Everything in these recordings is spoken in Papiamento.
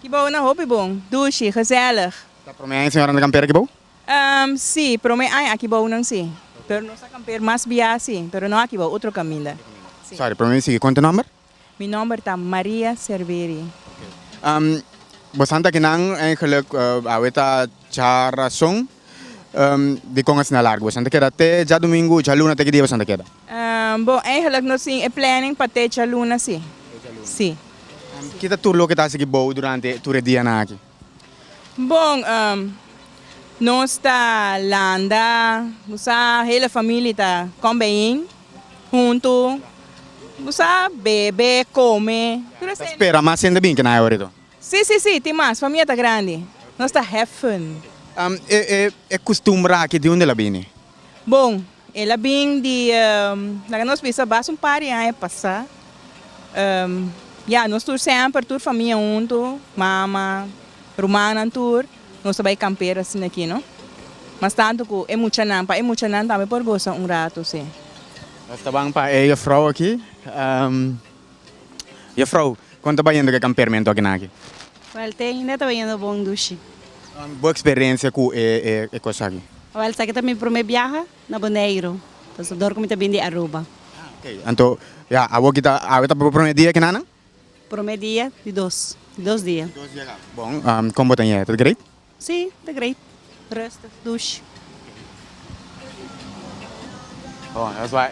Ki bou na hopi bon, dushi, gezellig. Ta prome aña señora nan ta kamper aki bou? Ehm, si, prome aña aki bou nan si. Pero nos a kamper mas biaha si, pero no aki bou, otro kaminda. Si. Sorry, prome mi sigui, konta e nòmber? Mi nòmber ta Maria Serviri. Ehm, bosan ta kinan en geluk, awe ta cha rason. Dikon asina largu bo san ta keda te djadumingu, djaluna te ki dia bo san ta keda? Bo, eigenlik nos tin e planning pa te djaluna si. Si. Ki ta tur loke ta hasi di bou durante tur e dianan aki? Bo, nos ta landa, bo sa, hele famili ta kom bijeen huntu, bo sa, bebe, kome, tur esei. Ta spera mas hende bin kina ae ora di tur? Sí, sí, sí, tin mas, famia ta grandi. Nos ta heffen. E custumbra aki di undel a bini? Bon, el a bin di, laga nos bisa, bas un par di aña pasa. Ya, nos tur semper, tur famia huntu, mama, rumannan tur, nos a bai kampera asina aki, no? Mas tantu ku e muchanan, pa e muchanan tambe por gosa un ratu, sí. Nos ta ban pa e juffrouw aki. Jefrouw, kon ta bayendo ku e kampermentu aki nan aki? Wèl, te ainda ta bayendo bon dushi. Bo eksperensia ku e e kos aki? Wèl, esaki ta mi promé biaha na Boneiru, ta su dor ku mi ta bini di Aruba. Oke, anto ya awor aki ta awe ta bo promé dia aki nan nan? Promé dia di dos, di dos dia. Bon, kon bo ta yega? Ta great? Sí, ta great. Rustig, douche. Oh, that's why.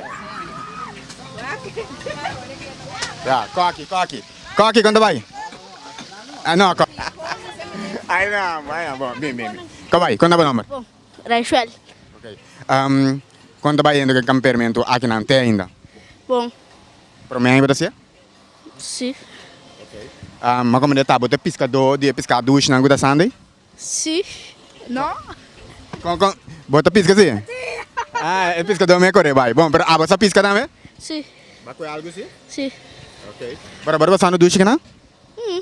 Ja, Koki, Koki. Koki, kon ta bai? Ah, no, Koki. Ay, no, ay, no, bon, bien, bien, bien. Kom bai, kon ta bo nomber? Bon, Rachel. Ok. Um, kon ta bai hende ku e kamper men tu aki nan te ainda? Bon. Prome aña bo ta sia? Si. Am a comende tabut e piscado di e pisca dush nan cu ta Sunday? Si. No. Con con bo ta pisca si? Si. Ah e piscado mi a core bay. Bon pero abo sa pisca tambe? Si. Bo a cu algu si? Si. Ok. Bo ta bor pasando dush cu nan? Hm.